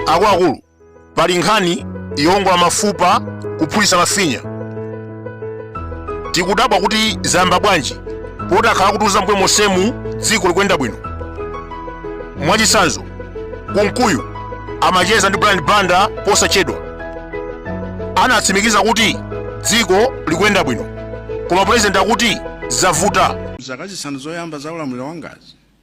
akuluakulu pali nkhani yowongola mafupa kuphulitsa mafinya tikudabwa kuti zayamba bwanji poti akhala kutiuza mmbuyo monsemu dziko likuyenda bwino mwachitsanzo kunkuyu amacheza ndi brian banda posachedwa anatsimikiza kuti dziko likuyenda bwino koma pulezidenti akuti zavuta zaka zisanu zoyamba za ulamuliro wa ngwazi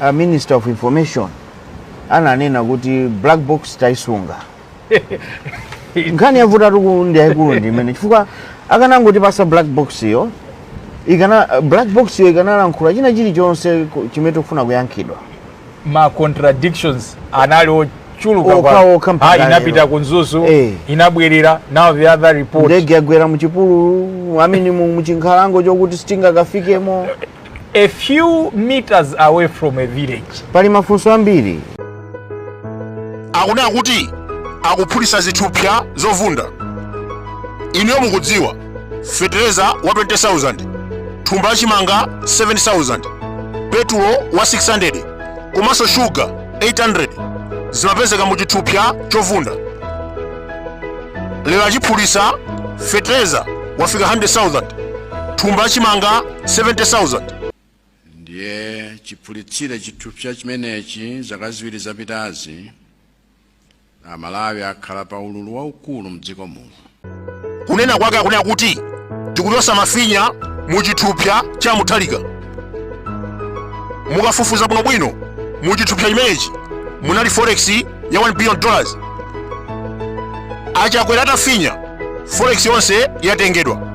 a minister of information ananena kuti black box tayisunga nkhani yavutatu uku ndi yayikulu ndi imene chifukwa akanangotipatsa black box yo ikana black box yo ikanalankhula china chilichonse ku- chimene tikufuna kuyankhidwa ma contradictions anali ochuluka Okha, kwa- okha mpaka Ah, lero. inapita ku mzuzu Eh. inabwerera now the other report ndege yagwera muchipululu I mean mu- muchinkhalango chokuti sitingakafikemo A few meters away from a village. Pali mafunso ambiri. Akunena kuti akuphulitsa zithupsa zovunda. Inuyo mukudziwa fetereza wa 20,000, thumba la chimanga 7,000, petulo wa 600 komanso shuga 800 zimapezeka mu chithupsa chovunda. Lero achiphulitsa fetereza wafika 100,000, thumba la chimanga 70,000 ndiye chiphulitsire chithupsa chimenechi zaka ziwiri zapitazi amalawi akhala pa ululu waukulu mdziko muno kunena kwake akunena kuti tikuchotsa mafinya mu chithupsa cha mutharika mukafufuza bwinobwino mu chithupsa chimenechi munali forex ya 1 billion dollars achakwera atafinya forex yonse yatengedwa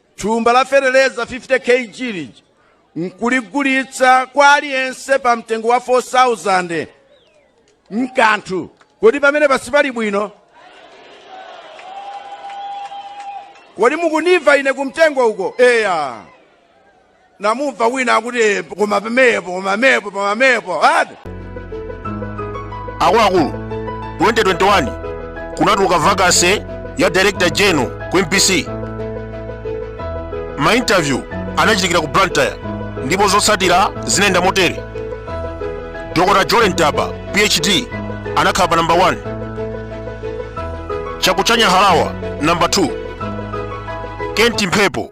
thumba la feteleza 50 kg lija nkuligulitsa kwa aliyense pa mtengo wa 4000 mkanthu kodi pamenepa sipali bwino kodi mukundimva ine kumtengo uko eya namumva wina akuti "Eh, koma pamenepo koma mepo koma mepo ati akuluakulu 2021 kunatuluka vacancy ya director general ku mbc mainterview anachitikira ku blantyre ndipo zotsatira zinayenda motere dr jolly ntaba phd anakhala pa namba 1 chakuchanya harawa namba 2 kent mphepo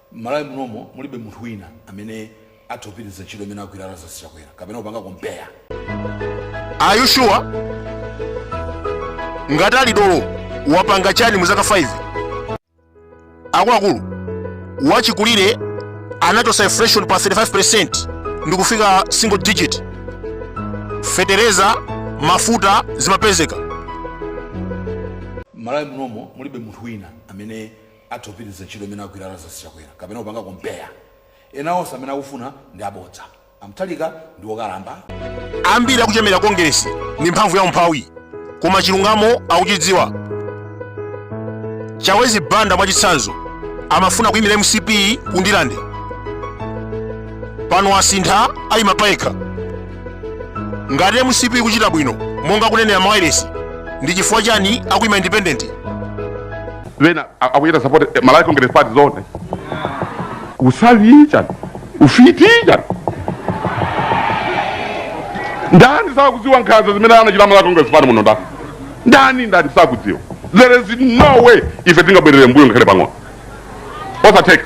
Malawi munomo mulibe munthu wina amene atha kupitiliza ntchito imene agwira Lazarus Chakwera kapena kupanga compare. Are you sure? Ngati ali dolo wapanga chani mu zaka 5? Akuluakulu wachikulire anachotsa inflation pa 35% ndi kufika single digit. Fetereza, mafuta zimapezeka. Malawi munomo mulibe munthu wina amene atha kupitiliza ntchito imene agwira Lazarus Chakwera kapena kupanga compare ena onse amene akufuna ndi abodza aMutharika ndi wokalamba ambiri akuchemera kongeresi ndi mphamvu ya umphawi koma chilungamo akuchidziwa chawezi banda mwachitsanzo amafuna kuyimira mcp kundilande pano asintha ayima payekha ngati mcp ikuchita bwino monga akunenera mawayilesi ndi chifukwa chani akuyima independent wena akuyita support eh, Malawi Congress Party zonse usavi chani ufiti chani ndani sakudziwa nkhanza zimene anachita Malawi Congress Party muno ndani ndani ndani sakudziwa there is no way ife tingabwerere mbuyo ngakhale pang'ono osatheka